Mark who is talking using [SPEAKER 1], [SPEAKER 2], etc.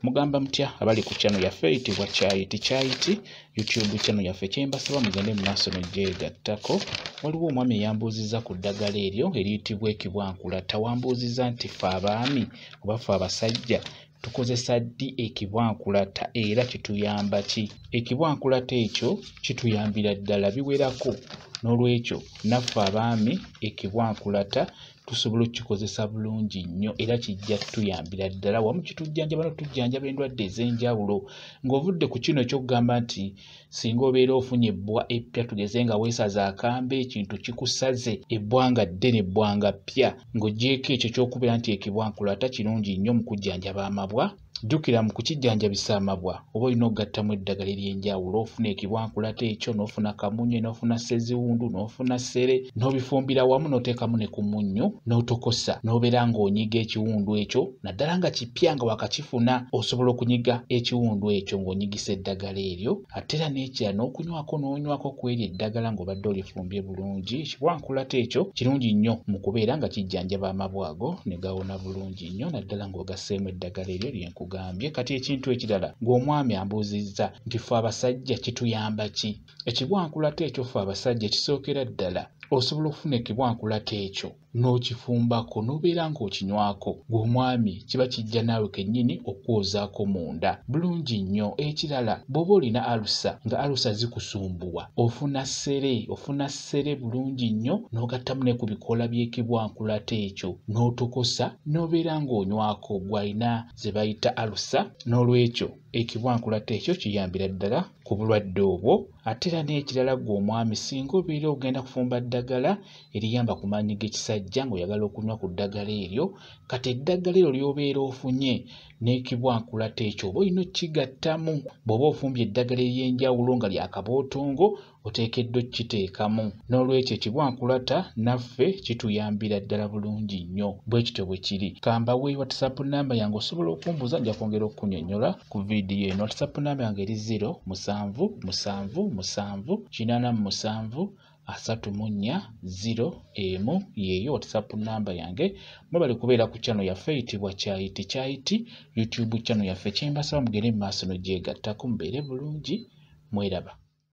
[SPEAKER 1] mugamba mutya abali ku channel yaffe eyitibwa kyayiti kyayiti youtube channel yaffe kyembasaba mugende mu maaso negyegattako waliwo omwami eyambuuzizza ku ddagala eryo eriyitibwa ekibwankula tawambuuzizza nti fe abaami oba fe abasajja tukozesa ddi ekibwankulata era kituyamba ki ekibwankulata ekyo kituyambira ddala biwerako n'olwekyo naffe abaami ekibwankulata tusobola okukikozesa bulungi nnyo era kijja tuyambira ddala wamu kitujjanjaba no tujjanjaba endwadde ez'enjawulo ng'ovudde ku kino ekyokugamba nti singa obeera ofunye ebbwa eppya tugeze nga weesaza akambe ekintu kikusaze ebbwa nga ddene ebbwa nga ppya ng'ogyeko ekyo ky'okubeera nti ekibwankula ata kirungi nnyo mu kujjanjaba amabwa jjukira mu kukijjanjabisa amabwa oba olina okugattamu eddagala ery'enjawulo ofuna ekibwankulata ekyo n'ofuna kamunye n'ofuna seziwundu n'ofuna ssere n'obifumbira wamu n'oteekamu ne ku munnyo n'otokosa n'obeera ng'onyiga ekiwundu ekyo naddala nga kipya nga wakakifuna osobola okunyiga ekiwundu ekyo ng'onyigisa eddagala eryo ate era n'ekira n'okunywako n'onywako ku eryo eddagala ng'obadde olifumbye bulungi ekibwankulata ekyo kirungi nnyo mu kubeera nga kijjanjaba amabwa ago ne gawona bulungi bulungi nnyo naddala ng'ogasseemu eddagala eryo lye nkugambye kati ekintu ekirala ng'omwami ambuuzizza nti ffe abasajja kituyamba ki ekibwankulata ekyo ffe abasajja kisookera ddala osobola okufuna ekibwankulata ekyo n'okifumbako n'obeera ng'okinywako gw'omwami kiba kijja naawe kennyini okukwozaako munda bulungi nnyo ekirala bw'oba olina alusa nga alusa zikusumbuwa ofuna ssere ofuna ssere bulungi nnyo n'ogattamu ne ku bikoola by'ekibwankulata ekyo n'otokosa n'obeera ng'onywako gw'alina ze bayita alusa n'olwekyo ekibwankulata ekyo kiyambira ddala ku bulwadde obwo ate era n'ekirala gwe omwami singa obeera ogenda kufumba ddagala eriyamba ku maanyi g'ekisajja ng'oyagala okunywa ku ddagala eryo kati eddagala eryo ly'obeera ofunye n'ekibwankulata ekyo oba olina okukigattamu bw'oba ofumbye eddagala ery'enjawulo nga lya kabootongo oteekeddwa okukiteekamu n'olwekyo ekibwankulata naffe kituyambira ddala bulungi nnyo bwe kityo bwe kiri kambawe whatsapp namba yange osobola okumbuuza nja kwongera okukunyonnyola ku vidiyo eno whatsapp namba yange eri 0 musanvu musanvu musanvu kinaana mu musanvu asatu mu nnya ziro emu yeeyo whatsapp namba yange mwebale kubeera ku kyano yaffe eyitibwa kyayiti kyayiti youtube kyano yaffe kyembasaba mugere mu maaso nogyegattako mubeere bulungi mweraba